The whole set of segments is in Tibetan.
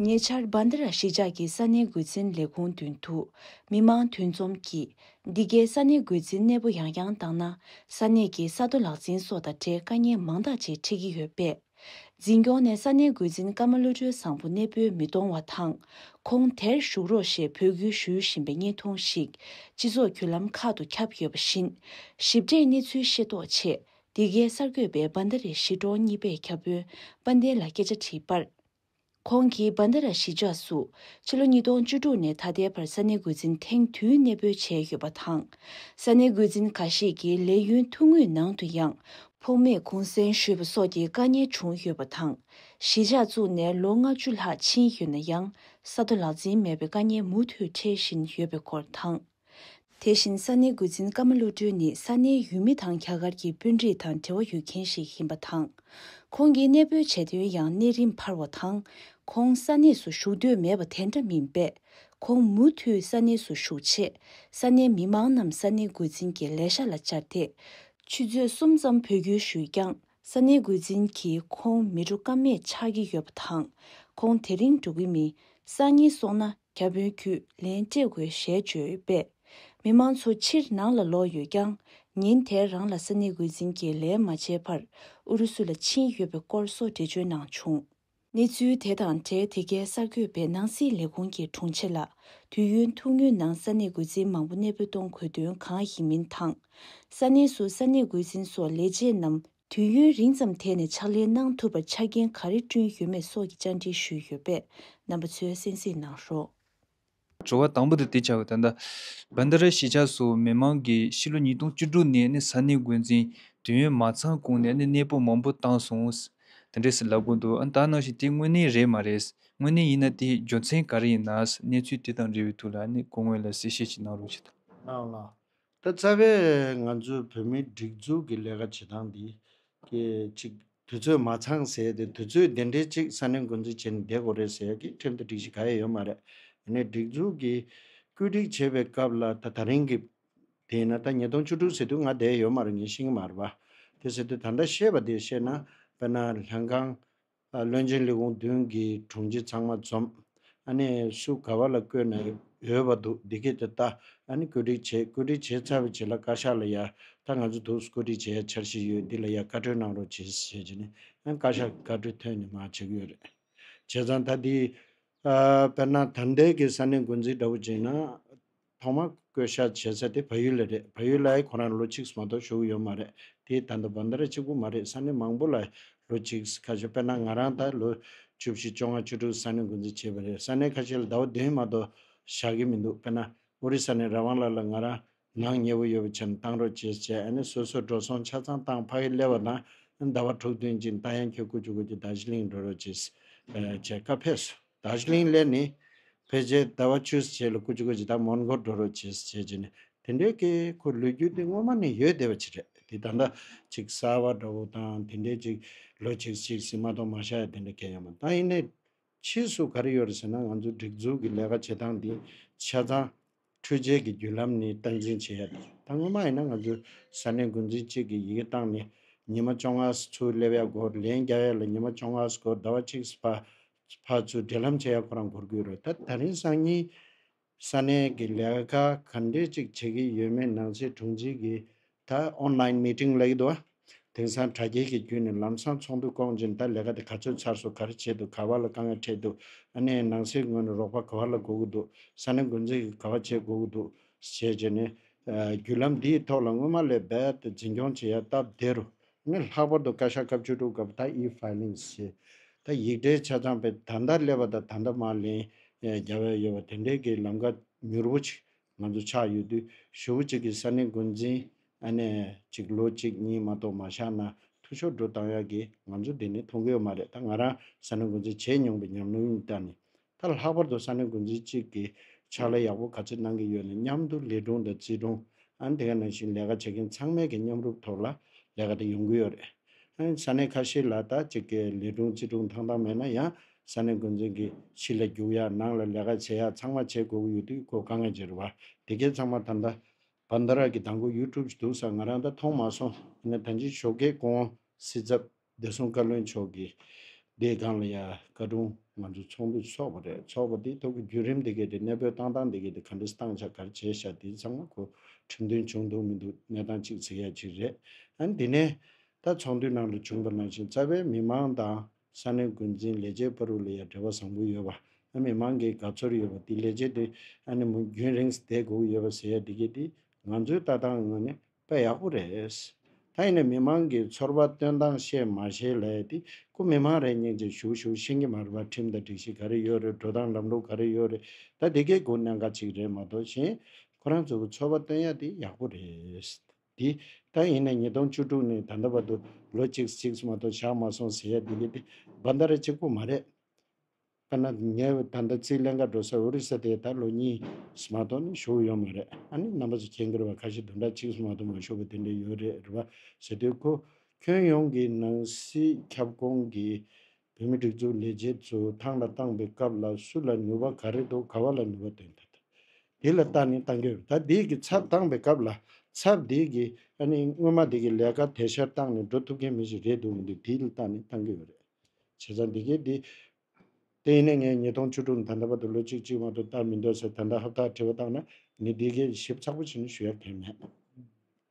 ཉེ་ཆར་སྦན་ད་ར་གཞིས་ཆགས་ཀྱི་ས་གནས་འགོས་འཛིན་ལས་ཁུངས་མདུན་དུ་མི་མང་དུས་འཛོམས་ཀྱིས་འདི་གའི་ས་གནས་འགོས་འཛིན་གནས་པོ་ཡང་ཡང་བཏང་ན་ས་གནས་ཀྱི་ས་རྡོ་ལག་འཛིན་སོགས་དང་འབྲེལ་དཀའ་ཉེན་མང་དག་ཅིག་འཕྲད་ཀྱི་ཡོད་པས། འཛིན་སྐྱོང་ནས་ས་གནས་འགོས་འཛིན་ཀརྨ་བློ་གྲོས་བཟང་པོ་གནས་སྤོས་མི་གཏོང་བ་དང་ཁོང་དེར་བཞུགས་རོགས་ཞེས་འབོད་སྐུལ་ཞུ་བཞིན་པའི་བརྙན་ཐུང་ཞིག་སྤྱི་ཚོགས་བརྒྱུད་ལམ་ཁག་ཏུ་ཁྱབ་ཡོད་པ་བཞིན། ཞིབ་ཕྲའི་གནས་ཚུལ་ཤེས་རྟོགས་ཆེད་འདི་གའི་གསར་འགོད་པས་སྦ་མདའ་རའི་གཞིས་གྲོང་གཉིས་པའི་ཁྱབ་དཔོན་དཔའ་ལྡན་ལ་སྐད་ཆ་དྲིས་པར། ཁོང་གིས་སྦ་མདའ་ར་གཞིས་ཆགས་སུ་ཕྱི་ལོ་ཉིས་སྟོང་བཅུ་དྲུག་ནས་ད་ལྟའི་བར་ས་གནས་འགོ་འཛིན་ཐེངས་དུས་གནས་སྤོས་བྱས་ཡོད་པ་དང། ས་གནས་འགོ་འཛིན་ག་ཤེད་ཀྱི་ལས་ཡུན་ཐུང་ངུའི་ནང་དུ་ཡང་ཕོགས་མེད་གུང་གསེང་ཞུས་པ་སོགས་ཀྱི་དཀའ་ངལ་བྱུང་ཡོད་པ་དང། གཞིས་ཆགས་བཙུགས་ནས་ལོ་ལྔ་བཅུ་ལྷག་ཕྱིན་ཡོད་ན་ཡང་ས་མཐོ་ལག་འཛིན་མེད་པའི་དཀའ་ངལ་མུ་མཐུད་འཕྲད་བཞིན་ཡོད་པའི་སྐོར་དང། དེ་བཞིན་ས་གནས་འགོ་འཛིན་བཀའ་མ་བློ་གྲོས་ནི་ས་གནས་ཡུལ་མི་དང་རྒྱ་གར་གྱི་དཔོན་རིགས་དང་འབྲེལ་བ་ཡོད་མཁན་ཞིག་ཡིན་པ་དང། ཁོང་གིས་གནས་སྤོས་བྱས་དོན་ཡང་གནས་རིམ་འཕར་བ་དང། ཁོང་ས་གནས་སུ་བཞུགས་འདོད་མེད་པ་དེ་འདྲ་མིན་པས། ཁོང་མུ་མཐུད་ས་གནས་སུ་བཞུགས་ཆེད་ས་གནས་མི་མང་རྣམས་ས་གནས་འགོ་འཛིན་གྱི་ལས་ཤག་ལ་བཅར་ཏེ། ཆུ་ཚོད་གསུམ་ཙམ་འཕོ་འགྱུར་ཞུས་ཀྱང་ས་གནས་འགོ་འཛིན་གྱིས་ཁོང་མི་འགྲོ་ཀ་མེད་ཆགས་ཀྱི་ཡོད་པ་དང། ཁོང་དེ་རིང་འགྲོ་གི་མིན་ས་གཉིས་སོང་ན་བརྒྱ་དཔོན་རྒྱུད་ལེན་བཀྲེས་དགོས་ཞལ་བརྗོད་པས། མི་མང་ཚོ་ཕྱིར་ནང་ལ་ལོག་ཡོད་ཀྱང། ཉིན་དེར་རང་ལ་ས་གནས་འགོ་འཛིན་གྱིས་ལན་མ་བྱས་བར་ཨུ་རུ་སུ་ལ་ཕྱིན་ཡོད་པའི་སྐོར་སོགས་འགྲེལ་བརྗོད་གནང་བྱུང། གནས་ཚུལ་དེ་དང་འབྲེལ་དེ་གའི་གསར་འགོད་པས་ནང་སྲིད་ལས་ཁུངས་ཀྱི་དྲུང་ཆེ་ལ་དུས་ཡུན་ཐུང་ངུའི་ནང་ས་གནས་འགོ་འཛིན་མང་པོ་གནས་སྤོས་གཏོང་དགོས་དོན་གང་ཡིན་མིན་དང། ས་གནས་སུ་ས་གནས་འགོ་འཛིན་སོགས་ལས་བྱེད་རྣམས་དུས་ཡུན་རིང་ཙམ་དེད་ནས་ཕྱག་ལས་གནང་ཐུབ་པར་ཆ་རྐྱེན་ག་རེ་བསྐྲུན་ཡོད་མེད་སོགས་ཀྱི་བཅར་འདྲི་ཞུས་ཡོད་པས་རྣམ་པ་ཚོས་གསན་གཟིགས་གནང་རོགས། བྱ་བ་དང་པོ་དེ་དེ་བྱ་བ་དང། བན་དྷ་རའི་གཞིས་ཆགས་སུ་མི་མང་གིས་ཕྱི་ལོ་ཉིས་སྟོང་བཅུ་དྲུག་ནས་ནི་ས་གནས་འགོ་འཛིན་དུས་ཡུན་མ་ཚང་གོང་ནས་ནི་གནས་སྤོ་མང་པོ་བཏང་སོང། དེ་འདྲས་ལབ་དགོས་འདུག་ཨང་དག་ནང་བཞིན་དེ་དངོས་གནས་རེད་མ་རེད། དངོས་གནས་ཡིན་ན་དེའི་རྒྱུ་མཚན་ག་རེ་ཡིན་ནའང་གནས་ཚུལ་དེ་དང་འབྲེལ་བའི་ཐུགས་ལ་ནི་གོ་དངོས་ལ་གསལ་བཤད་ཅིག་གནང་རོགས་ཞུས་དང། གནང་ལ། ད་རྩ་བའི་ང་ཚོའི་བོད་མིའི་སྒྲིག་འཛུགས་ཀྱི་ལས་ཀ་བྱེད་སྟངས་འདི་གི་ཅིག་དུས་ཚོད་མ་ཚང་ཟེར་ཏེ་དུས་ཚོད་དེ་འདྲའི་ཅིག་ས་གནས་འགོ་འཛིན་བྱས་ནས་བསྡད་དགོས་རེད་ཟེར་ཡ་གི་ཁྲིམས་ལྟར་སྒྲིག་གཞི་ག་ཡ་ཡོད་མ་རེད། ཡིན་ནའི་སྒྲིག་འཛུགས་ཀྱི་བཀོད་སྒྲིག་བྱེད་པའི་སྐབས་ལ་ད་ད་རིང་གི་དེས་ན་ད་ཉིས་སྟོང་བཅུ་དྲུག་ཟེར་དུས་ང་བསྡད་ཡོད་མ་རེད་ངས་ཤེས་ཀྱི་མ་རེད་པ། དེ་ཟེར་དུས་ད་ལྟ་བཤད་པ་དེ་བཤད་ན་དཔེར་ན་ལྷན་ཁང། བློན་ཆེན་ལི་ཀོང་ཏུན་གྱིས་དྲུང་ཆེ་ཚང་མ་འཛོམས། ཨ་ནི་སུ་ག་བ་ལ་བསྐོས་ནས་ཡོད་པ་འདུག་འདི་སྐད་དུ་བལྟ། ཨ་ནི་བཀོད་སྒྲིག་བྱེད་བཀོད་སྒྲིག་བྱས་ཚར་བའི་རྗེས་ལ་བཀའ་ཤག་ལ་ཡ། ད་ང་ཚོ་དུག་སུ་བཀོད་སྒྲིག་བྱེད་ཡ་འཆར་གཞི་ཡོད་འདི་ལ་ཡ་བཀའ་ཁྲོལ་གནང་རོགས་བྱེད་ཞེས་བྱས་ནས་ཨ་ནི་བཀའ་ཤག་གིས་བཀའ་ཁྲོལ་ཐོན་ནས་མ་བྱེད་གི་ཡོད་རེད། བྱས་ཙང་ད་འདི། དཔེར་ན་དར་མདེལ་གྱི་ས་ནས་འགོ་འཛིན་འདྲ་བོ་བྱས་ན། ཐོག་མར་བསྐོས་བཞག་བྱས་ས་དེ་བལ་ཡུལ་ལ་རེད་བལ་ཡུལ་ལའི་ཁོ་རང་ལོ་གཅིག་མ་གཏོགས་བཞུགས་ཡོད་མ་རེད་དེའི་ད་ལྟ་བར་ཟླ་རེ་གཅིག་པོ་མ་རེད་ས་གནས་མང་པོ་ལ་ལོ་གཅིག་ཁ་ཤོར་དཔེར་ན་ང་རང་ད་ལོ་བཅུ་བཞི་བཅོ་ལྔ་བཅུ་དྲུག་ས་གནས་འགོ་འཛིན་བྱས་པ་རེད་ས་གནས་ཁ་ཤས་ལ་ཟླ་བ་བདུན་མ་གཏོགས་བཞག་གི་མི་འདུག་དཔེར་ན་ཨོ་རི་ས་ནས་ར་ཝང་ལ་ལ་ང་རང་ནང་ཉེ་བོ་ཡོད་པ་ཆེ་ན་བཏང་རོགས་བྱས་བྱས་ཨ་ནི་སོ་སོ་འགྲོ་སོང་ཆ་ཚང་བཏང་ཕ་ཡིས་གླེ་བ་དང་ཟླ་བ་དྲུག་བསྟུན་ཅིང་ལྟ་ཡང་ཁྱོད་སྐུ་བཅུག་གོ་རྒྱུ་ད་གཞི་གླིང་འགྲོ་རོགས་བྱས། སྐབས་ཕེབས་སུ། དར་ཞིང་སླེ་ནས། ཕལ་ཆེར་ཟླ་བ་ཆུ་སེར་ལ་ཀུ་ཅི་ཀུ་ཅི་དང་མོན་གྷོར་འགྲོ་རོགས་བྱེད་ཟེར་བྱེད་ནས་དེ་འདྲའི་སྐད་ཁོ་ལུས་རྒྱུ་དེ་སྔོན་མ་ནས་ཡོད་བསྡད་པ་ཅིག་རེད་དེ་ད་ལྟ་ཅིག་གསར་བ་འདྲ་བོ་དང་དེ་འདྲའི་ཅིག་ལོ་ཅིག་ཅིག་ཟིན་མ་གཏོགས་མ་ཤ་ཡ་དེ་འདྲ་སྐད་ཡང་མ་ད་ཡིན་ནའི་ཕྱིས་སུ་ག་རེ་ཡོད་རེད་ཟེར་ན་ང་ཚོའི་སྒྲིག་འཛུགས་ཀྱི་ལས་ཀ་བྱེད་སྟངས་འདི་ཆ་ཚང། འཕྲུལ་ཆས་ཀྱི་བརྒྱུད་ལམ་ནས་སྟངས་འཛིན་བྱེད་ཡ་དང་ད་སྔོན་མ་ཡིན་ན་ང་ཚོས་ས་གནས་འགོ་འཛིན་གཅིག་གིས་ཡི་གེ་བཏང་ནས་ཉི་མ་བཅོ་ལྔ་སུ་ཚུར་སླེབས་ཡ་སྒོ་ལན་རྒྱག་ཡ་ལ་ཉི་མ་བཅོ་ལྔ་སུ་སྒོ་ཟླ་བ་གཅིག་སུ་ཕར་ཚུར་འབྲེལ་ལམ་བྱེད་ཡ་ཁོ་རང་སྒོར་སྒུག་རོགས་ད་ད་རིང་སང་ཉིན་ས་གནས་ཀྱི་ལས་ཀ་ག་འདྲས་གཅིག་བྱེད་ཀྱི་ཡོད་མེད་ནང་ཆེ་དྲུང་ཆེ་གིས་ད online meeting ལ་ཡོད་དོ། དེང་སང་དྲ་རྒྱའི་གི་རྒྱུད་ནས་ལམ་སང་ཚོགས་འདུ་བསྐོང་ཅིང་ད་ལས་ཀ་དེ་ག་ཚོད་ཚར་སོ་ག་རེ་བྱེད་འདུག་ག་བ་ལ་དཀའ་ངལ་འཕྲད་འདུག་ཨ་ནེ་ནང་སའི་ངོས་ནས་རོགས་པ་ག་བ་ལ་དགོས་ཀི་འདུག་ས་གནས་འགོ་འཛིན་གི་ག་བ་བྱེད་དགོས་ཀི་འདུག་ཞེས་བྱས་ནས། བརྒྱུད་ལམ་འདིའི་ཐོག་ལ་སྔོན་མ་ལས་རྦད་དེ་འཛིན་སྐྱོང་བྱེད་ཡ་སྟབས་དེ་རུ། ངས་ལྷག་པར་དུ་བཀའ་ཤག་སྐབས་བཅུ་དྲུག་སྐབས་ད E-filing ཞེས། ད་ཡིག་འབྲེལ་ཆ་ཚང་པའི་ད་ད་སླེབས་པ་དང་ད་ད་མ་ལེན། རྒྱ་བལ་ཡོད་པ་དེ་འདྲའི་གི་ལམ་ཀ་མྱུར་བོ་ཅིག་ང་ཚོ་ཆགས་ཡོད་དུས་ཞོ་བོ་གཅིག་གིས་ས་གནས་འགོ་འཛིན་ཨ་ནེ་གཅིག་ལོ་གཅིག་གཉིས་མ་གཏོགས་མ་བཞག་ན་ཐུགས་ཤོར་འགྲོ་སྟངས་ཡག་གི་ང་ཚོ་འདི་ནས་མཐོང་གི་ཡོད་མ་རེད་ད་ང་རང་ས་གནས་འགོ་འཛིན་བྱས་མྱོང་པའི་ཉམས་སྣང་གཉིས་ལྟར་ནི། ད་ལྷག་པར་དུ་ས་གནས་འགོ་འཛིན་གཅིག་གིས་ཕྱག་ལས་ཡག་པོ་ག་ཚོད་གནང་གི་ཡོད་ན་མཉམ་དུ་ལི་སྒྲུང་དང་རྩིས་སྒྲུང་ཨ་འདི་ག་ནང་བཞིན་ལས་ཀ་བྱེད་མཁན་ཚང་མས་ཀྱི་མཉམ་རུབ་ཐོག་ལ་ལས་ཀ་དེ་ཡོང་གི་ཡོད་རེད། ཧན། ས་གནས་ཁ་ཤས་ལ་ད་ཅིག་གི་ལི་སྒྲུང་རྩིས་སྒྲུང་ཐང་ཐང་མེད་ན་ཡང་ས་གནས་འགོ་འཛིན་གྱིས་ཕྱི་ལ་རྒྱུག་ཡག་ནང་ལ་ལས་ཀ་བྱེད་ཡག་ཚང་མ་བྱེད་དགོས་ཀྱི་ཡོད་དུས་ཁོ་དཀའ་ངལ་གྱི་རེད་བ། དེ་སྐད་ཚང་མ་ད་ལྟ། བ་མདའ་རག་གི་དང་པོ་ཡུལ་གྲུབ་ཅིག་འདུག་ས་ང་རང་ད་མཐོང་མ་སོང་ཡིན་ན་ད་འཇིག་ཞོག་སྐད་སྐོང། སྲིད་ཚབ། བདེ་སྲུང་བཀའ་བློན་མཆོག་གིས། འདིའི་སྒང་ལ་ཡ། བཀའ་དྲུང། ང་ཚོ་ཚོགས་འདུ་ཚོགས་པ་རེད་ཚོགས་པ་དེའི་ཐོག་གི་བརྒྱུད་རིམ་དེ་གས་དེ་གནས་སྤོས་བཏང་སྟངས་དེ་གས་དེ་ག་འདྲི་སྟངས་ཆ་གར་བྱས་བཞག་དེའི་ཚང་མ་ཁོ། ཁྲིམས་མཐུན་བྱུང་འདུག་མི་འདུག་གནས་སྟངས་གཅིག་ཚིག་ཡ་གཅིག་རེད། ཨ་ནི་དེ་ནས། ད་ཚོགས་འདུའི་ནང་ལ་བྱུང་པ་ནང་བཞིན་རྩ་བའི་མི་མང་དང། ས་གནས་མགོ་འཛིན་ལས་བྱེད་པ་རུ་ལ་ཡར་འབྲེལ་བ་བཟང་པོ་ཡོད་པ། ཨ་མི་མང་གི་དགའ་ཚོར་ཡོད་པ་འདི་ལས་བྱེད་དེ་ཨ་ནི་མོ་རྒྱུན་རིང་སྡད་དགོས་ཀྱི་ཡོད་པ་ཟེར་ཡ་འདི་གི་འདི་ང་ཚོའི་ལྟ་སྟངས་ངོས་ནས་དཔེ་ཡག་པོ་རེད། ད་ཡིན་ན་མི་མང་གི་ཚོར་བ་སྟོན་སྟངས་བཤད་མ་བཤད་ལས་དེ་ཁོ་མི་མང་རེད་སྙིང་རྗེ་ཞུ་ཞུ་ཤིང་གི་མར་བ་ཁྲིམས་དང་སྒྲིག་གཞི་ག་རེ་ཡོད་རེད་འགྲོ་སྟངས་ལམ་ལུགས་ག་རེ་ཡོད་རེད་ད་འདི་གའི་སྒོ་ནས་འགའ་ཅིག་རེད་མ་གཏོགས་གཞན། ཁོ་རང་ཚོ་གི་ཚོར་བ་སྟོན་ཡ་འདི་ཡག་པོ་རེད། དེ་ལྟ་ཡིན་ན་ཉིས་སྟོང་བཅུ་དྲུག་ནས་ད་ལྟ་བར་དུ་ལོ་གཅིག་གཅིག་སུ་མ་གཏོགས་བཞག་མ་སོང་ཟེར་ཡ་འདི་གི་དེ་སྦ་མཐའ་ར་གཅིག་པོ་མ་རེད། དཔེར་ན་ངས་ད་ལྟ་རྩིས་ལེན་ཁ་འགྲོ་སར་ཨོ་རི་ས་དེ་ད་ལོ་གཉིས་སུ་མ་གཏོགས་ནས་བཞུགས་ཡོད་མ་རེད་ཨ་ནི་རྣམ་པ་ཚོ་ཁྱེད་འགེར་བ་ཁ་ཤས་བདུན་ཕྲག་གཅིག་སུ་མ་གཏོགས་མ་བཞུགས་པ་དེ་འདྲ་ཡོད་རེད་རེད་བ་ཟེར་དུས་ཁོ་ཁྱོན་ཡོངས་ཀྱི་ནང་སྲིད་ཁྱབ་ཁོངས་ཀྱི་བོད་མི་སྒྲིག་འཛུགས་ལས་བྱེད་ཚོས་ཐང་ལ་བཏང་པའི་སྐབས་ལ་སུ་ལ་ནུས་པ་ག་རེ་འདུག་ག་བ་ལ་ནུས་པ་འདུག་ད་དེ་ལ་བལྟ་ནས་བཏང་གི་རེད་ད་དེ་གི་ཚབ་བཏང་པའི་སྐབས་ལ་ཚབ་དེ་གི་ཨ་ནི་སྔོན་མ་དེ་གི་ལས་ཀ་དེ་ཤར་བཏང་ནས་འགྲོ་ཐུབ་མཁན་མི་ཞིག་རེད་འདུག་གི་འདུག་དེ་ལ་བལྟ་ནས་བཏང་གི་ཡོད་རེད། བྱས་ཙང་དེ་གའི་དེ་དེ་ཡིན་ན་ངས་ཉིས་སྟོང་བཅུ་དྲུག་ད་ལྟ་བར་དུ་ལོ་གཅིག་གཅིག་བར་དུ་བལྟ་མི་འདོད་ཟེར་ད་ལྟ་ཧབ་ཐག་བྲིས་པ་བཏང་ན་ངས་དེ་གའི་ཞིབ་ཚགས་པོ་བྱས་ནས་ཞུ་ཡ་གན་མེད།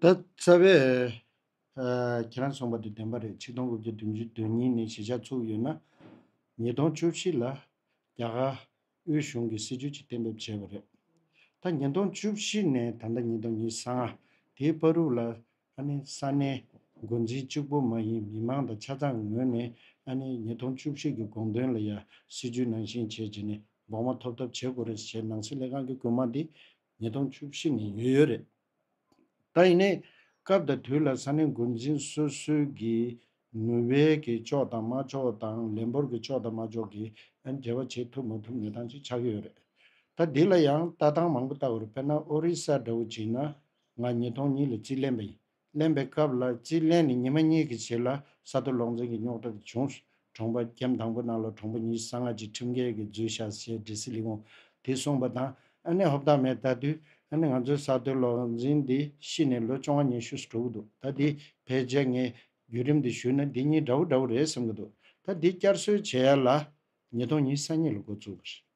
ད་རྩ་བའི། ཁྱེད་རང་གསུངས་པ་དེ་བདེན་པ་རེད་ཆིག་སྟོང་དགུ་བརྒྱ་བདུན་ཅུ་དོན་གཉིས་ནས་གཞིས་ཆགས་ཚུགས་ཡོད་ན། ཉིས་སྟོང་བཅུ་བཞི་ལ་རྒྱ་གར་དབུས་གཞུང་གི་སྲིད་བྱུས་གཅིག་གཏན་འབེབས་བྱས་པ་རེད། ད་ཉིས་སྟོང་བཅུ་བཞི་ནས་ད་ལྟ་ཉིས་སྟོང་ཉིས་སང་དེའི་དཔའ་རུག་ལ་ཨ་ནི་ས་གནས་མགོ་འཛིན་གཅིག་པོ་མ་ཡིན་མི་མང་དང་ཆ་ཚང་ངོས་ནས་ཨ་ནི་ཉིས་སྟོང་བཅུ་བཞི་གི་དགོངས་དོན་ལ་ཡང་སྲིད་བྱུས་ནང་བཞིན་བྱས་རྗེས་ནས་འབོགས་མ་ཐོབ་ཐབས་བྱེད་དགོས་རེད་ཟེར་ནང་སྲིད་ལས་ཁང་གི་རྐུན་མ་འདི་ཉིས་སྟོང་བཅུ་བཞི་ནས་ཡོད་ཡོད་རེད། ད་ཡིན་ནའི་སྐབས་དང་དུས་ལ་ས་གནས་འགོ་འཛིན་སོ་སོའི་གི་ནུས་བས་གི་ཕྱོགས་དང་མ་ཕྱོགས་དང་ལས་འབོར་གི་ཕྱོགས་དང་མ་ཕྱོགས་གི་འབྲེལ་བ་བྱེད་ཐུབ་མ་ཐུབ་ནུས་སྟངས་ཅིག་ཆགས་ཀྱི་ཡོད་རེད། ད་འདི་ལ་ཡང་ལྟ་སྟངས་མང་པོ་ལྟ་དགོས་རེད་དཔེར་ན་ཨོ་རི་ས་འདྲ་བོ་བྱིན་ན་ང་ཉིས་སྟོང་གཉིས་ལ་རྩིས་ལེན་པ་ཡིན། གླེན་པའི་སྐབས་ལ་རྩིས་གླེན་ནི་ཉི་མ་གཉིས་ཀྱི་རྗེས་ལ་ས་རྡོ་སློག་འཛིང་གི་རྙོག་དྲ་དེ་བྱུང། གྲོང་པ་རྒྱའམ་དང་པོ་ནང་ལ་གྲོང་པ་གཉིས་གསང་སྔགས་ཀྱི་ཁྲིམས་འགལ་གྱི་རྫུན་བཤད་ཟེར་འདྲེ་སི་ལི་ཝང་དེས་གསུངས་པ་དང་ཨ་ནེ་ཧོབ་ཐང་མས་ད་དུས་ཨ་ནེ་ང་ཚོའི་ས་རྡོའི་སློག་འཛིང་འདི་ཤི་ནས་ལོ་བཅོ་ལྔ་ཉི་ཤུ་སོ་དྲུག་འདུག་ད་འདི་བས་རྗེས་ངས་བརྒྱུད་རིམ་འདི་ཞུས་ན་འདི་གཉིས་འདྲ་བོ་འདྲ་བོ་རེད་བསམ་གྱི་འདུག་ད་འདི་བསྐྱར་གསོའི་བྱེད་ཡ་ལ་ཉིས་སྟོང་ཉིས་ས་གཉིས་ལ་འགོ་བཙུགས་པ་རེད།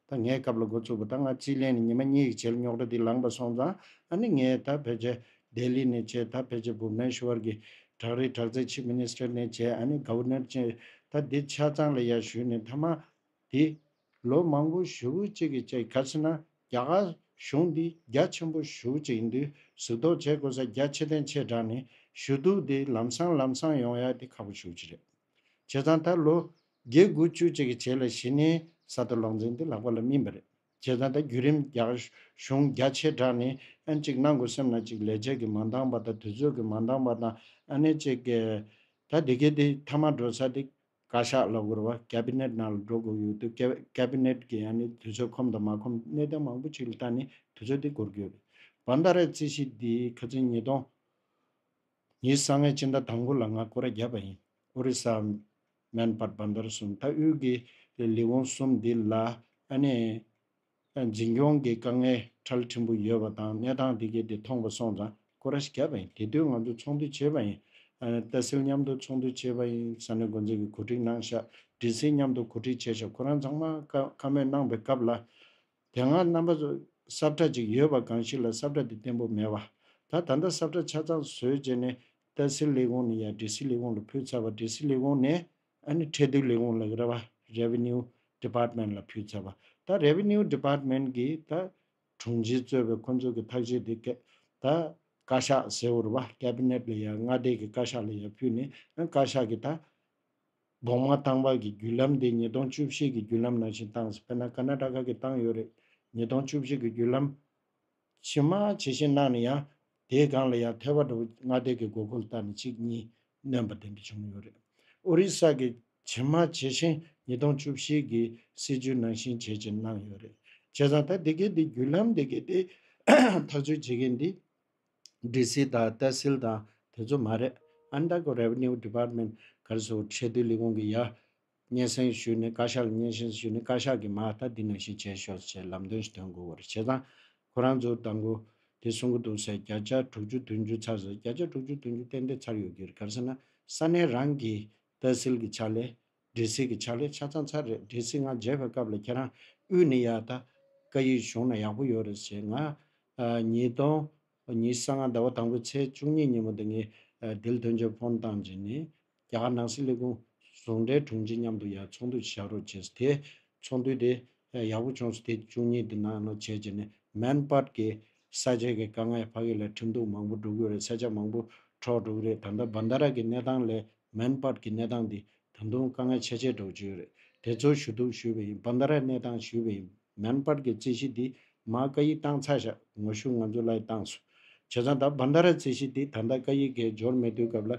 ད་ངས་སྐབས་ལ་འགོ་བཙུགས་པ་ད་ང་རྩིས་ལེན་ནས་ཉི་མ་གཉིས་ཡིག་བྱེད་ལ་ཉོག་དྲ་འདི་ལངས་པ་སོང་ཙང་ཨ་ནི་ངས་ད་ཕལ་ཆེར་ལྡེ་ལི་ནས་བྱས་ད་ཕལ་ཆེར་བུ་མེན་ཤུ་ཝར་གྱི་བྲག་རིའི་བྲག་རྩའི་ཆིབས་མི་ནི་སྟེར་ནས་བྱས་ཨ་ནི་ག་བུ་ནེར་ཅན་ད་འདི་ཆ་ཚང་ལ་ཡར་བཞུས་ནས་ཐ་མ་དེ། ལོ་མང་པོ་བཞུ་བོ་གཅིག་གི་ཅེ་ག་སི་ན་རྒྱ་གར་གཞུང་འདི་རྒྱ་ཆེན་པོ་བཞུ་བོ་གཅིག་ཡིན་དུས་གཟིགས་རྟོག་བྱེད་དགོས་ས་རྒྱ་ཆེ་ལྡན་ཆེ་དྲག་ནས་བཞུ་འདུག་འདི་ལམ་སང་ལམ་སང་ཡོང་ཡག་འདི་ཁག་པོ་བཞུ་བྱེད་རེད། བྱས་ཙང་ད་ལོ། དགེ་དགུ་བཅུ་གཅིག་གི་བྱེས་ལ་གཞི་ནས་གསར་དུ་ལོག་འཛིན་འདི་ལག་པ་ལ་སྨིན་པ་རེད། བྱས་ཙང་ད་བརྒྱུད་རིམ་རྒྱག་གཞུང་རྒྱ་ཆེ་དྲག་ནས་ཨན་གཅིག་གནང་དགོས་སེམས་ན་གཅིག་ལས་བྱེད་ཀྱི་མ་འདང་བ་དང་དུས་ཚོད་ཀྱི་མ་འདང་བ་དང་ཨ་ནེ་གཅིག། ད་དེ་གའི་དེ་མཐའ་མ་འགྲོ་ས་དེ་བཀའ་ཤག་ལ་དབུར་བ Cabinet ནང་ལ་འགྲོ་དགོས་ཡོད་འདུག Cabinet གྱི་ཨ་ནེ་དུས་ཚོད་ཁོམ་དང་མ་ཁོམ་གནས་དོན་མང་པོ་གཅིག་ལ་བལྟ་ནས་དུས་ཚོད་དེ་འགོར་གྱི་ཡོད་རེད། བ་མདའ་ར་རྩིས་གཞི་འདིའི་ཁ་ཚིན་ཉིས་སྟོང། ངའི་ས་ངས་སྤྱི་ཟླ་དང་པོ་ལ་ང་སྐོར་བརྒྱབ་པ་ཡིན། ཨོ་རི་ས། མན་པར་བ་འདར་སུ་མཐའ་དབུས་ཀྱི་ལས་ལས་འོང་གསུམ་འདི་ལ་ཨ་ནེ། འཛིན་སྐྱོང་གི་དཀའ་ངལ་ཁྲལ་ཕྲན་བུ་ཡོད་པ་དང་གནས་སྟངས་དེ་གའི་དེ་མཐོང་པ་སོང་ཙང་སྐོར་ར་ཞིག་བརྒྱབ་པ་ཡིན་དེ་དུས་ང་ཚོ་ཚོགས་འདུ་བྱེད་པ་ཡིན། རྟ་སིལ་མཉམ་དུ་ཚོགས་འདུ་བྱེད་པ་ཡིན་ས་ནས་འགོ་འཛིན་གྱི་གོ་སྒྲིག་གནང་ཤག་དྲིན་སིལ་མཉམ་དུ་གོ་སྒྲིག་བྱས་ཤག་ཁོ་རང་ཚང་མ་བཀའ་མོལ་གནང་པའི་སྐབས་ལ། དེ་སྔར་རྣམ་པ་གསབ་གྲྭ་གཅིག་ཡོད་པ་གང་ཞིག་ལ་གསབ་གྲྭ་དེ་བརྟན་པོ་མེད་པ། ད་ད་ལྟ་གསབ་གྲྭ་ཆ་ཚང་བཟོས་རྗེས་ནས་ཏཱ་སི་ལི་ཝུན་ནི་ཡར་ཏྲི་སི་ལི་ཝུན་ལ་ཕུད་ཚར་བ་ཏྲི་སི་ལི་ཝུན་ནས་ཨ་ནི་ཁྲལ་བསྡུ་ལས་ཁུངས་ལ་རེ་བ Revenue Department ལ་ཕུད་ཚར་བ་ད Revenue Department གིས་ད་དྲུང་ཆེ་གཙོས་པའི་ཁོ་ཚོ་གི་ཐག་གཅད་དེ་ད་བཀའ་ཤག་ཟེར་བོར་བ Cabinet ལ་ཡར་མངའ་སྡེ་གི་བཀའ་ཤག་ལ་ཡར་ཕུད་ནས་ཨ་བཀའ་ཤག་གིས་ད་གདོང་དམར་ཐང་བར་གྱི་བརྒྱུད་ལམ་དེ་ཉིས་སྟོང་བཅུ་བཞི་གི་བརྒྱུད་ལམ་ནང་བཞིན་བཏང་ཟིན་དཔེར་ན་ཀ་ན་ཀྲ་ཁ་གི་བཏང་ཡོད་རེད་ཉིས་སྟོང་བཅུ་བཞི་གི་བརྒྱུད་ལམ། ཕྱི་མ་ཇི་བཞིན་གནང་ནས་ཡང་དེའི་སྒང་ལ་ཡང་ཐལ་བ་འགྲོ་བའི་སྔ་ལྟས་ཀྱི་དགོས་མཁོ་ལ་བརྟག་ནས་གཅིག་གཉིས་བསྣན་པ་དེ་འདྲ་བྱུང་ཡོད་རེད། ཨོ་རི་ས་གི་ཕྱི་མ་ཇི་བཞིན་ཉིས་སྟོང་བཅུ་བཞི་གི་སྲིད་བྱུས་ནང་བཞིན་བྱེད་ཅེས་གནང་ཡོད་རེད། བྱས་ཙང་ད་དེ་གའི་འདི་བརྒྱུད་ལམ་དེ་གའི་དེ་ཐག་གཅོད་བྱེད་མཁན་དེ། སྒྲིག་སྲིད་དང་གཏད་སྲིལ་དང་དེ་ཚོ་མ་རེད། Undergo Revenue Department གར་སོ་ཁྲལ་བསྡུ་ལས་ཁུངས་ཀྱི་ཡ། སྙན་སེང་ཞུས་ནས་བཀའ་ཤག་ལ་སྙན་སེང་ཞུས་ནས་བཀའ་ཤག་གིས་མ་ལྟ་འདི་ནང་བཞིན་བྱས་ཤོག་ཅེས་ལམ་སྟོན་ཞིག་དོན་དགོས་བར་བྱས་ཙང། ཁོ་རང་ཚོ་ད་མགོ། དེ་གསུང་གི་འདུག་ཟེར་བརྒྱ་ཆ་དྲུག་ཅུ་དོན་བཅུ་ཚར་ཟེར་བརྒྱ་ཆ་དྲུག་ཅུ་དོན་བཅུ་ཏན་ཏན་ཚར་ཡོད་ཀྱི་རེད་གར་སེ་ན་ས་གནས་རང་གིས་གཏད་སྲིལ་གྱི་ཆ་ལས། འདྲེ་སྲིན་གྱི་ཕྱག་ལས་ཆ་ཚང་ཚར་རེད་འདྲེ་སྲིན་ང་མཇལ་བའི་སྐབས་ལ་ཁྱེད་རང་དབུས་ནས་ཡག་ད་བཀའ་ཡིག་བཞུགས་ན་ཡག་པོ་ཡོད་རེད་ཟེར་ང་ཉིས་སྟོང་ཉིས་གསང་སྔ་ཟླ་བ་དང་པོའི་ཚེས་བཅུ་གཉིས་ཉིན་མོ་དེ་ངས་དིལ་དོན་ཆེན་ཕོན་བཏང་རྗེས་ནས་རྒྱ་གར་ནང་སྲིད་ལས་ཁུངས་ཟུང་འབྲེལ་དྲུང་ཆེ་མཉམ་དུ་ཡར་ཚོགས་འདུ་བྱ་རོགས་བྱས་སོ་དེ་ཚོགས་འདུ་དེ་ཡག་པོ་བྱུང་སོ་དེ་བཅུ་གཉིས་དེ་ནང་ནང་བྱས་རྗེས་ནས་མན་སྤར་གྱི་ས་ཆའི་གི་དཀའ་ངལ་ཕ་གི་ལ་ཁྲིམས་གཏུག་མང་པོ་འགྲོ་གི་རེད་ས་ཆ་མང་པོ་འཕྲོག་འགྲོ་གི་རེད་ད་ལྟ་བཱནྡ་ར་གི་གནས་སྟངས་ལས་མན་སྤར་གྱི་གནས་སྟངས་འདི་ད་དུང་དཀའ་ངལ་ཆེ་ཆེ་སྒྲོག་བྱེད་ཡོད་རེད་དེ་ཚོར་ཞུ་གཏུག་ཞུས་པ་ཡིན་བནྡྷ་རའི་གནས་སྟངས་ཞུས་པ་ཡིན་མན་སྤར་གྱི་རྩིས་གཞི་འདི་མ་བཀའ་ཡིག་བཏང་ཚར་བཞག་ངོ་ཤུགས་ང་ཚོའི་ལའི་བཏང་སོ་བྱས་ཙང་ད་བནྡྷ་རའི་རྩིས་གཞི་འདི་ད་ལྟ་བཀའ་ཡིག་གས་འབྱོར་མེད་དུས་སྐབས་ལ་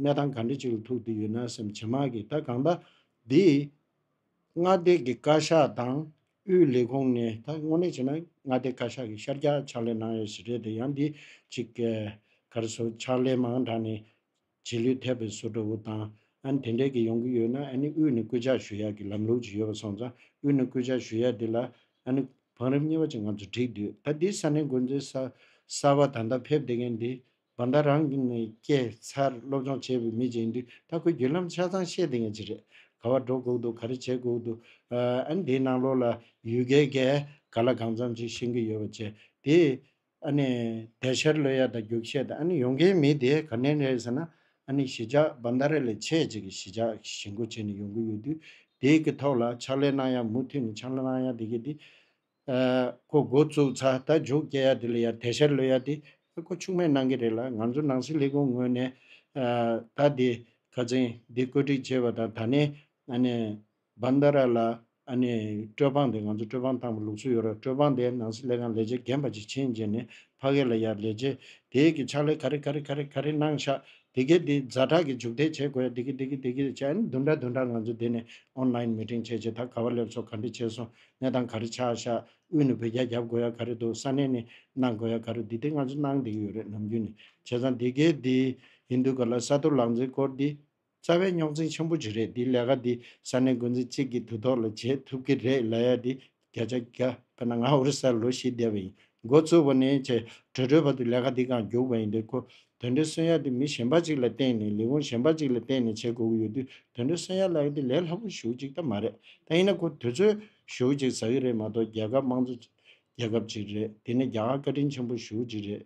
གནས་སྟངས་ག་འདྲི་ཅིག་ལ་ཐུག་བསྡུས་ཡོད་ན་སེམས་ཇེ་མང་གི་ད་གང་ལྟ་འདི། མངའ་སྡེ་གི་བཀའ་ཤག་དང་དབུས་ལས་ཁུངས་ནས་ད་དངོས་གནས་བྱས་ན་མངའ་སྡེ་བཀའ་ཤག་གི་ཤར་རྒྱག་ཕྱག་ལས་གནང་ཡས་ཞིག་རེད་དེ་ཡང་འདི་གཅིག་གལ་གར་སོ་ཕྱག་ལས་མང་དྲགས་ནས། རྗེས་ལུས་ཐེབས་པའི་བཟོ་འདྲ་བོ་དང། ཨ་ནི་དེ་འདྲས་ཀྱི་ཡོང་གི་ཡོད་ན་ཨ་ནི་དབུས་ནས་སྐུལ་ལྕག་ཞུ་ཡག་གི་ལམ་ལུགས་ཅིག་ཡོད་པ་སོང་ཙང་དབུས་ནས་སྐུལ་ལྕག་ཞུ་ཡག་དེ་ལ་ཨ་ནི་བང་རིམ་གཉིས་པ་ཅིག་ང་ཚོ་བསྒྲིགས་དུས་ད་འདི་ས་གནས་འགོ་འཛིན་གསར་བ་ད་ལྟ་ཕེབས་བསྡད་མཁན་འདི་བ་ད་རང་གི་ནས་སྐྱེས་འཚར་སློབ་སྦྱོང་བྱས་པའི་མི་ཅིག་ཡིན་དུས་ད་ཁོས་བརྒྱུད་ལམ་ཆ་ཚང་ཤེས་བསྡད་མཁན་ཅིག་རེད། ག་བ་འགྲོ་དགོས་འདུག་ག་རེ་བྱེད་དགོས་འདུག་ཨ་ནི་དེའི་ནང་ལོགས་ལ་ཡུལ་སྐད་གས་ག་ལ་གང་འཚམ་ཅིག་ཤེས་ཀྱི་ཡོད་པ་བཅས་དེས་ཨཱ་ནི། དལ་ཤར་ལོས་ཡལ་དང་རྒྱུག་ཤེས་དང་ཨཱ་ནི་ཡོང་གིན་མི་དེ་ག་ནས་རེད་ཟེར་ན་ཨཱ་ནི་གཞིས་ཆགས་འབའ་མདའ་རེ་ལས་ཆེ་གཅིག་གི་གཞིས་ཆགས་ཀྱི་གཞིས་མགོ་བྱས་ནས་ཡོང་གི་ཡོད་དུས་དེའི་གི་ཐོག་ལ་ཕྱག་ལས་གནང་ཡ་མུ་མཐུད་ནས་ཕྱག་ལས་གནང་ཡ་དེ་གི་དེ། ཁོ་འགོ་བཙུགས་ཚ་ད་འཇུག་སྐྱེལ་ཡ་དེ་ལ་ཡར་དལ་ཤར་ལོས་ཡལ་དེ་ཨཱ་ཁོ་ཕྱུགས་སྨད་གནང་གི་རེད་ལ་ང་ཚོ་ནང་སྲིད་ལས་ཁུངས་ངོས་ནས་ཨཱ་ད་དེ་ག་ཚེང་དེ་བཀོད་སྒྲིག་བྱས་པ་དང་ད་ནས་ཨཱ་ནི། Bandara། ལ། ཨ་ནི། སྤྲོད་དཔང་དེ་ང་ཚོ་སྤྲོད་དཔང་བཏང་བའི་ལུགས་སྲོལ་ཡོད་ར་སྤྲོད་དཔང་དེ་ནང་སྲིད་ལས་ཁང་ལས་བྱེད་རྒན་པ་ཅིག་ཕྱིན་རྗེས་ནས་ཕ་གས་ལ་ཡར་ལས་བྱེད་དེས་གི་ཕྱག་ལས་ག་རེ་ག་རེ་ག་རེ་ག་རེ་གནང་ཤག་དེ་གས་དེ་རྫ་དྲག་གི་འཇུག་ཐལ་བྱེད་དགོས་ཡ་དེ་གི་དེ་གི་དེ་གི་བྱས་ཨ་ནི་བདུན་ཕྲག་བདུན་ཕྲག་ང་ཚོ་དེ་ནས Online Meeting བྱས་རྗེས་ད་ག་བ་སླེབས་སོ་ག་འདྲི་བྱས་སོང་གནས་སྟངས་ག་རེ་ཆགས་ཤག་དབུས་ནས་བོད་རྒྱ་རྒྱབ་དགོས་ཡ་ག་རེ་འདུག་ས་གནས་ནས་གནང་དགོས་ཡ་ག་རེ་འདུག་དེ་ང་ཚོ་གནང་བསྡད་ཀྱི་ཡོད་རེད་ནམ་རྒྱུན་ནས་བྱས་ཙང་དེ་གས་དེ་ཡིན་དུས་ག་ལ་ས་ཐོ་ལག་འཛིན་སྐོར་དེ། རྩ་བའི་རྙོག་འཛིང་ཆེན་པོ་ཅིག་རེད་འདི་ལས་ཀ་འདི་ས་གནས་འགོ་འཛིན་གཅིག་གིས་དུས་ཐོག་ལ་བྱེད་ཐུབ་ཀྱི་རེད་ལ་ཡ་འདི་བརྒྱ་ཆ་བརྒྱ་དཔེར་ན་ང་ཨོ་རི་སར་ལོ་བཞི་བསྡད་པ་ཡིན་འགོ་བཙུགས་པ་ནས་བྱས་བྲོས་བྲོས་བར་དུ་ལས་ཀ་འདི་གང་རྒྱུགས་པ་ཡིན་འདི་ཁོ་དོན་འགྲེལ་སོན་ཡ་འདི་མི་གཞན་པ་ཅིག་ལ་བསྟེན་ནས་ལས་ཁུངས་གཞན་པ་ཅིག་ལ་བསྟེན་ནས་བྱེད་དགོས་ཀྱི་ཡོད་དུས་དོན་འགྲེལ་སོན་ཡ་ལ་ཡ་འདི་ལས་སླ་པོ་ཞུགས་ཅིག་ད་མ་རེད་ད་ཡིན་ན་ཁོ་དུས་ཚོད་ཞུགས་ཅིག་ཟ་གི་རེད་མ་གཏོགས་རྒྱལ་ཁབ་དམངས་གཙོ་རྒྱལ་ཁབ་ཅིག་རེད་འདི་ནས་རྒྱ་གར་བཀའ་དྲིན་ཆེན་པོ་ཞུགས་ཅིག་རེད་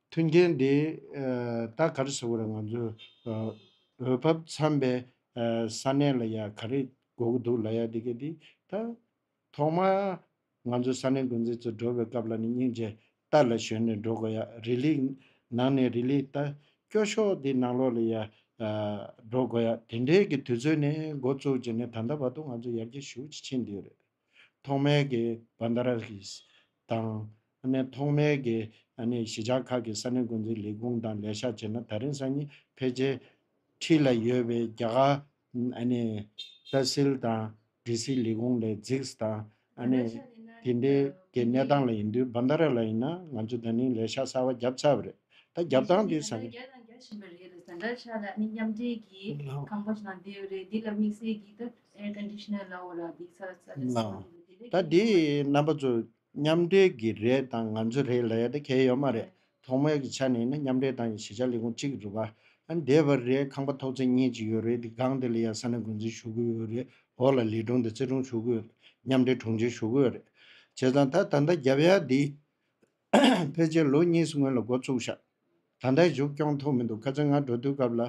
མཐུན་རྐྱེན་དེ་དག་གར་ཟེར་བ་རེད་ང་ཚོའི་འོས་བབ་འཚམས་པའི་ས་གནས་ལ་ཡང་ག་རེ་དགོས་ཀྱི་འདུག་ལ་ཡ་དེ་ག་དེ་ད་ཐོག་མར་ང་ཚོ་ས་གནས་འགོ་འཛིན་ཚོ་འགྲོ་བའི་སྐབས་ལ་ནི་སྙིང་རྗེ་རྟ་ལ་ཞོན་ནས་འགྲོ་དགོས་ཡ་རི་ལི་ནང་ནས་རི་ལི་ད་སྐྱོ་ཤོག་དེ་ནང་ལོག་ལ་ཡ་འགྲོ་དགོས་ཡ་དེ་འདྲའི་གི་དུས་ཚོད་ནི་འགོ་བཙུགས་ཀྱི་ནི་ད་ལྟ་བར་དུ་ང་ཚོ་ཡར་རྒྱས་ཞུགས་ཀྱི་ཕྱིན་དུས་རེད། ཐོག་མའི་གི Bandaraghese དང། ཐོག་མའི་གི་གཞིས་ཆགས་ཁག་གི་ས་གནས་འགོ་འཛིན་ལས་ཁུངས་དང་ལས་ཤག་བྱས་ན་ད་རིང་སང་ཉིན་ཕལ་ཆེར་ཁྲི་ལ་ཡོད་པའི་རྒྱ་གར Tehsil དང་སྒྲིག་སྲིད་ལས་ཁུངས་ལས་འཛིགས་དང། དེ་འདྲའི་གི་གནས་སྟངས་ལ་ཡིན་དུས Bandara ལ་ཡིན་ན་ང་ཚོ་ད་རིང་ལས་ཤག་གསར་བ་བརྒྱབ་ཚར་བ་རེད། ད་བརྒྱབ་སྟངས་དེ་ས་གནས། རྒྱ་དང་རྒྱ་བཞིན་པ་རེད། Bandara ཤག་ལ་མཉམ་འབྲེལ་གི་ཁང་པ་ཞིག་ལ་འདེད་ཡོད་རེད། འདི་ལ་དམིགས་བསལ་གི་ད Air conditioner ལ་འོ་ལ་སྡིག་ཚ་ས་རེད་ཟེར་བ་དེ་འདི་ལས་ཀྱང་ཉེས་པ་རེད། རྣམ་པ་ཚོ་མཉམ་འབྲེལ་གྱི་རེད་དང་ང་ཚོའི་རེད་ལ་ཡ་ད་གལ་ཡོད་མ་རེད་ཐོག་མའི་གི་ཆ་ནས་ནི་མཉམ་འབྲེལ་དང་གཞི་ཆགས་ལས་ཁུངས་གཅིག་རུ་བ་འདེད་པ་རེད་ཁང་པ་ཐོག་ཚད་གཉིས་ཅིག་ཡོད་རེད་དེ་སྒང་དེ་ལ་ཡ་ས་ནས་འགོ་འཛིན་ཞུ་གི་ཡོད་རེད་འོ་ལ་ལས་དྲུང་དེ་རྩེ་དྲུང་ཞུ་གི་ཡོད་རེད་མཉམ་འབྲེལ་དྲུང་ཆེ་ཞུ་གི་ཡོད་རེད་བྱས་ཙང་ད་ད་ལྟ་རྒྱབ་ཡ་འདི་ཕལ་ཆེར་ལོ་གཉིས་སྔོན་ལ་འགོ་བཙུགས་ཤག་ད་ལྟ་བཞུགས་སྐྱོང་ཐུབ་མི་འདུག་ཁ་ཚོན་ང་འགྲོ་དུས་སྐབས་ལ།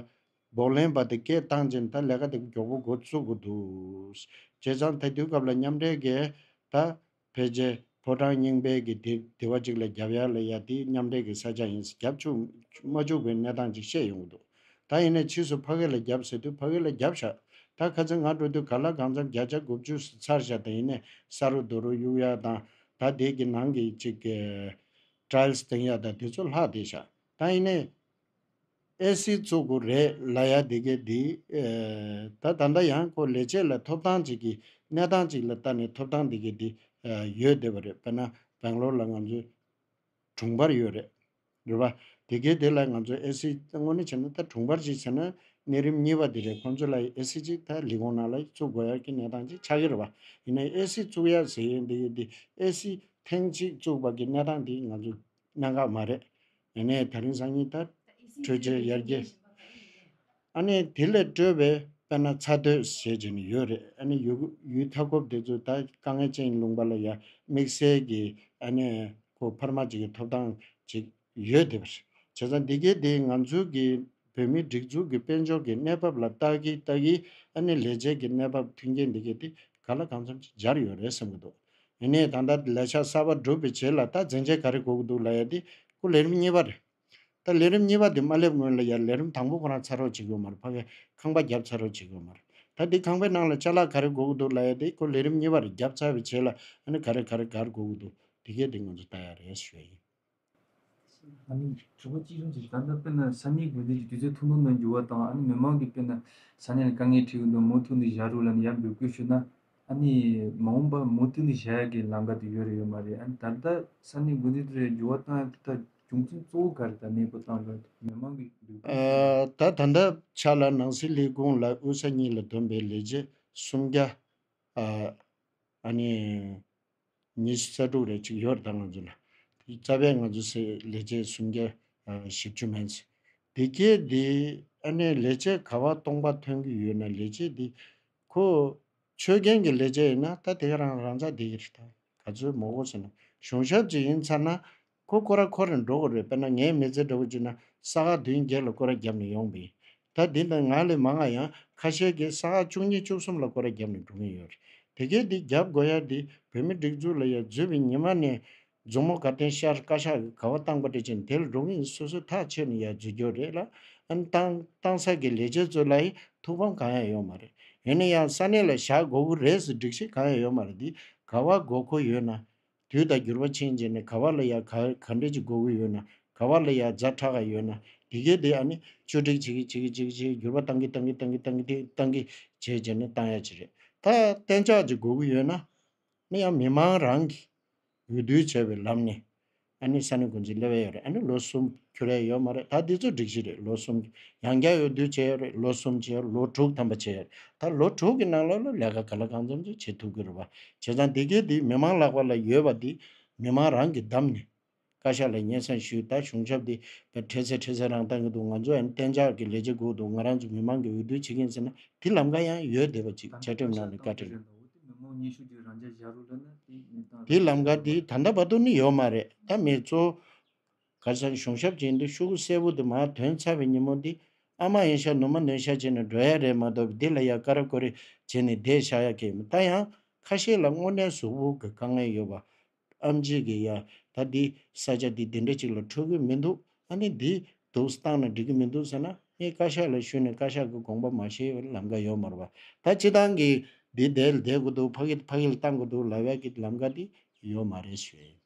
བགོ་ལེན་པ་དེ་སྐད་བཏང་རྗེས་ད་ལས་ཀ་དེ་མགྱོགས་པོ་འགོ་བཙུགས་དགོས་འདུག། བྱས་ཙང་ད་དུས་སྐབས་ལ་མཉམ་འབྲེལ་སྒས་ད། ཕལ་རྗེ། ཕོ་བྲང་རྙིང་པའི་གི་དེ་དེ་བ་གཅིག་ལ་རྒྱབ་ཡར་ལ་ཡར་དེ་མཉམ་འབྲེལ་གི་ས་ཆ་ཡིན་ཟེར་རྒྱབ་ཆུག་མ་བཅུག་པའི་གནས་སྟངས་ཅིག་བཤད་ཡོང་གི་འདུག་ད་ཡིན་ནས་ཕྱིས་སུ་ཕ་གི་ལ་རྒྱབ་ཟེར་དུས་ཕ་གི་ལ་རྒྱབ་བཞག་ད་ཁ་ཚིག་ང་འགྲོ་དུས་ག་ལ་གང་འཚམ་བརྒྱ་ཆ་དགུ་བཅུ་ཟེར་ཚར་བཞག་ད་ཡིན་ནས་ས་རུ་རྡོ་རུ་གཡུག་ཡ་དང་ད་དེ་གི་ནང་གི་ཅིག་གི། Trials དེང་ཡ་ད་དེ་ཚོ་ལྷག་བསྡད་བཞག་ད་ཡིན་ནས། ཨེ་སི་གཙོ་གུ་རེ་ལ་ཡ་དེ་གེ་དེ། ད་ད་ལྟ་ཡང་ཁོ་ལས་བྱེད་ལ་ཐོབ་ཐང་ཅིག་གིས་གནས་སྟངས་ཅིག་ལ་ལྟ་ནས་ཐོབ་ཐང་དེ་གེ་དེ་ཡོད་བསྡད་པ་རེད་དཔེར་ན་བེང་ལོར་ལ་ང་ཚོའི་དྲུང་འཕར་ཡོད་རེད་རེད་པ། དེ་གེ་དེ་ལ་ང་ཚོ་ཨེ་སི་དངོས་གནས་བྱས་ན་ད་དྲུང་འཕར་ཅིག་བྱས་ན་གནས་རིམ་གཉིས་པ་དེ་རེད་ཁོང་ཚོ་ལ་ཡི་ཨེ་སི་ཅིག་ད་ལི་གོང་ནང་ལ་ཡི་བཙུགས་དགོས་ཡག་གི་གནས་སྟངས་ཅིག་ཆགས་གི་རེད་པ། ཡིན་ན་ཡི་ཨེ་སི་བཙུགས་ཡག་ཟེར་ཡོད་དེ་གེ་དེ་ཨེ་སི་ཐེངས་གཅིག་བཙུགས་པ་གི་གནས་སྟངས་དེ་ང་ཚོ། གནད་འགག་མ་རེད། ཡང་ནས་ད་རིང་སང་ཉིན་ད་བྲོས་བྱས་ཡར་རྒྱས། ཨ་ནས་དེ་ལས་སྤྲོས་པའི་དཔེར་ན་ཚ་སྡོད་བྱས་བྱས་ནས་ཡོད་རེད་ཨ་ནས་ཡུལ་མཐའ་འཁོབ་དེ་ཚོ་ད་དཀའ་ངལ་ཅན་ཡིན་ལུང་པ་ལ་ཡ་དམིགས་བསལ་གྱི་ཨ་ནས་ཁོ་འཕར་མ་བྱེད་མཁན་ཐོབ་ཐང་བྱེད་ཡོད་དེ་བྱས་ཙང་དེ་གའི་དེ་ང་ཚོའི་གི་བོད་མིའི་སྒྲིག་འཛུགས་ཀྱི་དཔལ་འབྱོར་གྱི་གནས་བབ་ལ་ལྟ་གིན་ལྟ་གིན་ཨ་ནི་ལས་བྱེད་ཀྱི་གནས་བབ་མཐུན་རྐྱེན་འདི་གས་དེ་ག་ལ་གང་འཚམ་ཅིག་སྦྱར་ཡོད་རེད་བསམ་གྱི་འདུག་ཡིན་ནའི་ད་ལྟ་ལས་འཆར་གསར་པ་སྒྲུབ་པའི་རྗེས་ལ་ལྟ་འཛིན་ཆས་ག་རེ་དགོས་ཀྱི་འདུག་ལ་ཡར་དེ་སྐུ་ལས་རིམ་གཉིས་པ་རེད་ད། ལས་རིམ་གཉིས་པ་དེ་མ་སླེབས་སྔོན་ལ་ཡར་ལས་རིམ་དང་པོ་ཁོ་རང་ཚར་རོགས་བྱེད་དགོས་མ་རེད་ཕ་གས་ཁང་པ་བརྒྱབ་ཚར་རོགས་བྱེད་དགོས་མ་རེད་ད། དེ་ཁང་པའི་ནང་ལ་བཅའ་ལག་ག་རེ་དགོས་ཀྱི་འདུག་ལ་ཡར་དེ་སྐུ་ལས་རིམ་གཉིས་པ་རེད་བརྒྱབ་ཚར་བའི་རྗེས་ལ་ཨ་ནི་ག་རེ་ག་རེ་དགར་དགོས་ཀྱི་འདུག་དེ་གས་དེ་ང་ཚོ་ལྟ་ཡ་རེད་ཞུ་ཡ་ཡིན། ཨ་ནི་གྲོས་འགོ་གཅིག་མཚུངས་ཀྱིས་ད་ལྟ་དཔེར་ན་ས་གནས་དགོན་སྡེ་གྱི་དུས་ཚོད་ཐུང་ཐུང་ནང་འགྱུར་བ་དང་ཨ་ནི་མི་མང་གིས་དཔེར་ན་ས་གནས་ལ་དཀའ་ངལ་འཕྲད་ཀྱི་འདུག་མུ་མཐུད་ནས་བཞག་རུག་ལ་ནི་ཡར་འབོད་སྐུལ་ཞུ་ན། ཨ་ནི་མ་འོངས་པར་མུ་མཐུད་ནས་བཞག་ཡག་གི་ལམ་ཀ་དེ་ཡོད་རེད་ཡོད་མ་རེད་ཨ་ནི་ད་ལྟ་ས་གནས་དགོན་སྡེ་དེ་རེར་འགྱུར་བ་བཏང་ཡག་ཐུབ་ཐབས་རྒྱུ་མཚན་གཙོ་བོ་ག་རེད་ད་གནས་སྤོ་བཏང་དགོས་ན་མི་མང་གིས་འབོད་སྐུལ་ཞུ་ན། ད་ད་ལྟ་ཆ་ལ་ནང་སྲིད་ལས་ཁུངས་ལ་དབུས་ས་གཉིས་ལ་བདོན་པའི་ལས་བྱེད་སུམ་བརྒྱ། ཨ་ནི། ཉི་ཤུ་རྩ་དྲུག་རེ་གཅིག་ཡོད་རེད་ད་ང་ཚོ་ལ། རྩ་བའི་ང་ཚོ་སའི་ལས་བྱེད་སུམ་བརྒྱ་བཞི་བཅུ་མན། སྡེ་དགེ་འདི་ཨ་ནེ་ལས་བྱེད་ག་བ་སྟོང་པ་ཐོན་གྱི་ཡོད་ན་ལས་བྱེད་འདི་ཁོ། ཆོས་རྒྱན་གྱི་ལས་བྱེད་ཡིན་ན་ད་དེ་ག་རང་རང་རྩ་བསྡད་ཀྱི་རེད་ད། ག་ཚོད་མོག་གོ་ཟེར་ན་གཞུང་ཞབས་ཅིག་ཡིན་ཚར་ན་ཁོ་ཀོ་ར་ཁོ་རེ་འགྲོ་དགོས་རེད་དཔེར་ན་ངའི་མི་ཚེ་འདྲ་བོ་ཅིག་ན་ས་ག་བདུན་བརྒྱད་ལ་ཀོ་ར་རྒྱབ་ནས་ཡོང་གིན། ད་འདི་འདང་ང་ལས་མ་སྔ་ཡང་ཁ་ཤས་ཀྱིས་ས་ག་བཅུ་གཉིས་བཅུ་གསུམ་ལ་ཀོ་ར་རྒྱབ་ནས་འགྲོ་གིན་ཡོད་རེད་དེ་སྐད་འདི་རྒྱབ་དགོས་ཡ་འདི་བོད་མི་སྒྲིག་འཛུགས་ལ་ཡ་བརྫུས་པའི་ཉི་མ་ནས། མཛུབ་མོ་གར་བསྟན་ཤར་བཀའ་ཤག་གི་ག་བ་སྟངས་པ་འདྲ་ཅན་དེ་ལ་འགྲོ་གིན་ཡིན་སོ་སོས་ཐག་ཆད་ནས་ཡ་བརྫུས་རྒྱོ་རེད་ལ། ཏང་ཏང་སར་གྱི་ལས་བྱེད་ཚོས་ལ་ཡི་ཐུགས་ཕམ་གང་ཡང་ཡོད་མ་རེད་ཡོད་ན་ཡང་ས་གནས་ལ་བཞག་དགོས་ཀི་རེད་ཟེར་སྒྲིག་གཞི་གང་ཡང་ཡོད་མ་རེད་འདི་ག་བ་དགོས་མཁོ་ཡོད་ན། དུས་དང་འགྱུར་བ་ཕྱིན་རྗེས་ནས་ག་བ་ལ་ཡ་ག་ག་འདྲེ་གཅིག་མགོ་བོ་ཡོད་ན་ག་བ་ལ་ཡ་རྫ་ཕྲ་ག་ཡོད་ན་དེ་གའི་དེ་ཨ་ནི་ཆོས་སྒྲིག་བྱེད་གི་བྱེད་གི་བྱེད་གི་བྱེད་གི་འགྱུར་བ་བཏང་གི་བཏང་གི་བཏང་གི་བཏང་གི་དེ་བཏང་གི་བྱས་རྗེས་ནས་བཏང་ཡ་གཅིག་རེད་ད་གཏན་ཆགས་གཅིག་མགོ་བོ་ཡོད་ན་ནི་ཡང་མི་མང་རང་གི་འོས་བསྡུ་བྱས་པའི་ལམ་ནས་ཨ་ནི་ས་གནས་འགོ་འཛིན་སླེ་བས་ཡོད་རེད་ཨ་ནི་ལོ་གསུམ་འཁྱུར་ཡ་ཡོད་མ་རེད་ད་འདི་ཚོ་སྒྲིག་གཞི་རེད་ལོ་གསུམ་ཡང་བསྐྱར་འོས་བསྡུ་བྱས་ཡོད་རེད་ལོ་གསུམ་བྱས་ཡོད་རེད་ལོ་དྲུག་ཐམ་པ་བྱས་ཡོད་རེད་ད་ལོ་དྲུག་གི་ནང་ལ་ལ་ལས་ཀ་ག་ལ་གང་འཚམ་འཚམ་བྱེད་ཐུབ་གི་རེད་བ། བྱས་ཙང་དེ་གའི་དེའི་མི་མང་ལྷག་པ་ལ་ཡོད་པ་དེ་མི་མང་རང་གིས་བདམས་ནས། བཀའ་ཤག་ལ་སྙན་གསང་ཞུས་ད་གཞུང་ཞབས་དེ་བས་འཕྲལ་སེལ་འཕྲལ་སེལ་རང་བཏང་གི་འདུག་ང་ཚོ་ཡང་གཏན་འཇགས་ཀྱི་ལས་བྱེད་དགོས་འདུག་ང་རང་ཚོ་མི་མང་གིས་འོས་བསྡུ་བྱེད་མཁན་ཟེར་ན་དེ་ལམ་ཀ་ཡང་ཡོད་བསྡད་པ་ཅིག་བཅའ་ཁྲིམས་ནང་ནས་བཀའ་ཁྲི་ལ། དེའི་ལམ་ཀ་དེ་ད་ལྟ་བར་དུ་ནི་ཡོད་མ་རེད་ད་མི་གཙོ། གར་ཚང་གཞུང་ཞབས་ཅན་དུ་ཤུ་གུ་གསལ་བོ་འདུག་མར་དོན་ཚར་བའི་ཉིན་མོ་འདི་ཨ་མ་ཡིན་ཤག་ནུ་མ་ནུས་ཤག་བྱས་ནས་འགྲོ་ཡག་རེད་མ་གཏོགས་བདེ་ལ་ཡག་ཀ་ར་ཀོ་རེ་བྱས་ནས་བསྡད་ཤག་ཡག་གི་མི་ལྟ་ཡང་ཁ་ཤས་ལ་དངོས་གནས་ཟུག་བུག་གི་དཀའ་ངལ་ཡོད་པ་ཨམ་གཅིག་གི་ཡ་ད་འདི་ས་ཆ་འདི་དེ་འདྲ་ཅིག་ལ་འཕྲོད་གི་མི་འདུག་ཨ་ནི་འདི་འདུག་སྟངས་ན་འགྲིག་གི་མི་འདུག་ཟེར་ན་ངས་བཀའ་ཤག་ལ་ཞུས་ནས་བཀའ་ཤག་གི་དགོངས་པ་མ་ཤེས་བར་ལམ་ཀ་ཡོད་མ་རུ་བ་ད་སྤྱི་དང་གི་འདི་བསྡད་ལ་བསྡད་དགོས་འདུག་ཕ་གིལ་ཕ་གིལ་བཏང་དགོས་འདུག་ལ་བས་ཀི་ལམ་ཀ་འདི་ཡོད་མ་རེད་ཞུས།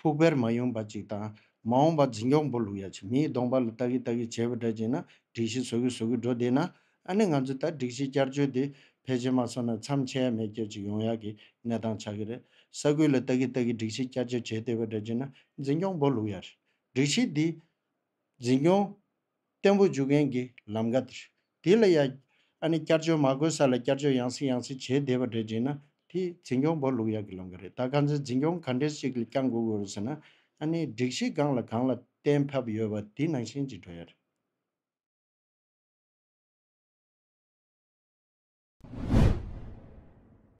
ཕུག་བེར་མ་ཡུངས་པ་ཅིག་དང། མ་འོངས་པ་འཛིན་སྐྱོང་འབུ་ལུག་ཡ་ཆེ་མིའི་གདོང་པ་ལ་ལྟ་གི་ལྟ་གི་བྱས་པ་འདྲ་ཅིག་ན་སྒྲིག་གཞི་བཟོ་གི་བཟོ་གི་འགྲོ་བསྡད་ན་ཨ་ནི་ང་ཚོས་ད་སྒྲིག་གཞི་བསྐྱར་བཅོས་འདི་ཕལ་ཆེར་མ་བཟོ་ན་མཚམས་ཆད་ཡ་མེད་སྐད་ཅིག་ཡོང་ཡག་གི་གནས་སྟངས་ཆགས་ཀྱི་རེད་ས་ཁུལ་ལ་ལྟ་གི་ལྟ་གི་སྒྲིག་གཞི་བསྐྱར་བཅོས་བྱས་བསྡད་པ་འདྲ་ཅིག་ན་འཛིན་སྐྱོང་འབུ་ལུག་ཡ་རེད་སྒྲིག་གཞི་འདི་འཛིན་སྐྱོང། བརྟན་པོ་འཇུག་མཁན་གྱི་ལམ་ཀ། དེ་ལ་ཡང། ཨ་ནི་བསྐྱར་བཅོས་མ་དགོས་ས་ལ་བསྐྱར་བཅོས་ཡང་སྲིད་ཡང་སྲིད་བྱས་བསྡད་པ་འདྲ་བྱས་ན་དེ་འཛིན་སྐྱོང་བོ་ལུག་ཡག་གི་ལམ་ཀ་རེད་ད་ག་ཚོད་འཛིན་སྐྱོང་ག་འདྲས་ཤིག་གིས་ཀྱང་འགུག་དགོས་རེད་ཟེར་ན་ཨ་ནི་སྒྲིག་གཞི་གང་ལ་གང་ལ་བརྟེན་ཕབ་ཡོད་པ་དེ་ནང་བཞིན་གྱིས་འགྲོ་ཡ་རེད།